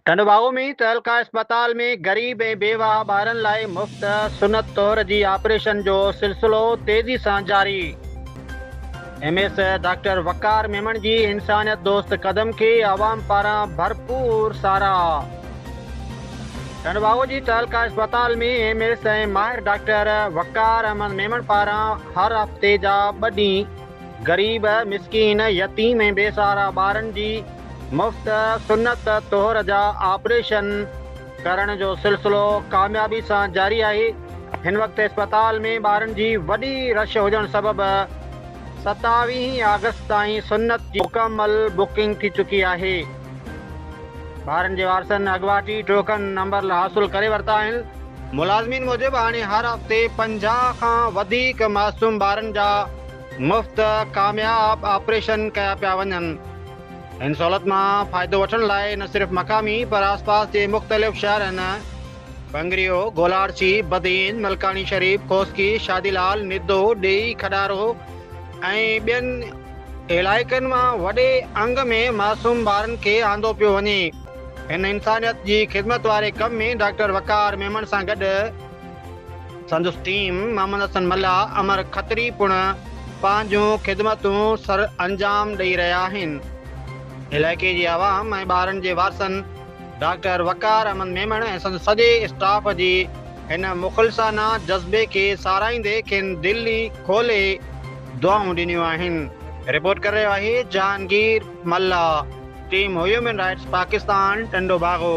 ٽنڊوباگو ۾ تعلقه اسپتال ۾ غريب ۽ بيواهه ٻارن لاء مفت سنت طور جي آپريشن جو سلسلو تيزي سان جاري، M S doctor Waqar Memon جي انسانيت دوست قدم کي عوام پاران ڀرپور ساراهه. ٽنڊوباگو جي تعلقه اسپتال ۾ ايم ايس ۽ ماهر ڊاڪٽر وقار احمد ميمڻ پاران هر هفتي جا ٻه ڏينهن، غريب، مسڪين، يتيم ۽ بي سهارا ٻارن جي مفت سنت طهر جا آپريشن ڪرڻ جو سلسلو ڪاميابي سان جاري آهي، هن وقت اسپتال ۾ ٻارن جي وڏي رش هجڻ سبب ستاويهين آگسٽ تائين سنت جي مڪمل بڪنگ ٿي چڪي آهي. ٻارن جي وارثن اڳواٽ ئي ٽوڪن نمبر حاصل ڪري ورتا آهن. ملازمين موجب هاڻي هر هفتي پنجاهه کان وڌيڪ معصوم ٻارن جا مفت ڪامياب آپريشن ڪيا پيا وڃن. هن سهولت مان فائدو وٺڻ لاء نه صرف مقامي پر آسپاس جي مختلف شهرن، بنگريو، گولاڙچي، بدين، ملڪاڻي شريف، کوسڪي، شادي لال، ندو، ڏيئي، کڏارو ۽ ٻين، علائقن مان وڏي انگ ۾ معصوم ٻارن کي آندو پيو وڃي. هن انسانيت جي خدمت واري ڪم ۾ ڊاڪٽر وقار ميمڻ سان گڏ سندس ٽيم محمد حسن ملاح، امر کتري پڻ پنهنجون خدمتون سر انجام ڏئي رهيا آهن. علائقي جي عوام ۽ ٻارن جي وارثن ڊاڪٽر وقار احمد ميمڻ ۽ سندس سڄي اسٽاف جي هن مخلصانه جذبي کي ساراهيندي کين دل ئي کولي، دعائون ڏنيون آهن. رپورٽ ڪري رهيو آهي Jahangir Mallah. Team human rights Pakistan Tando Bago.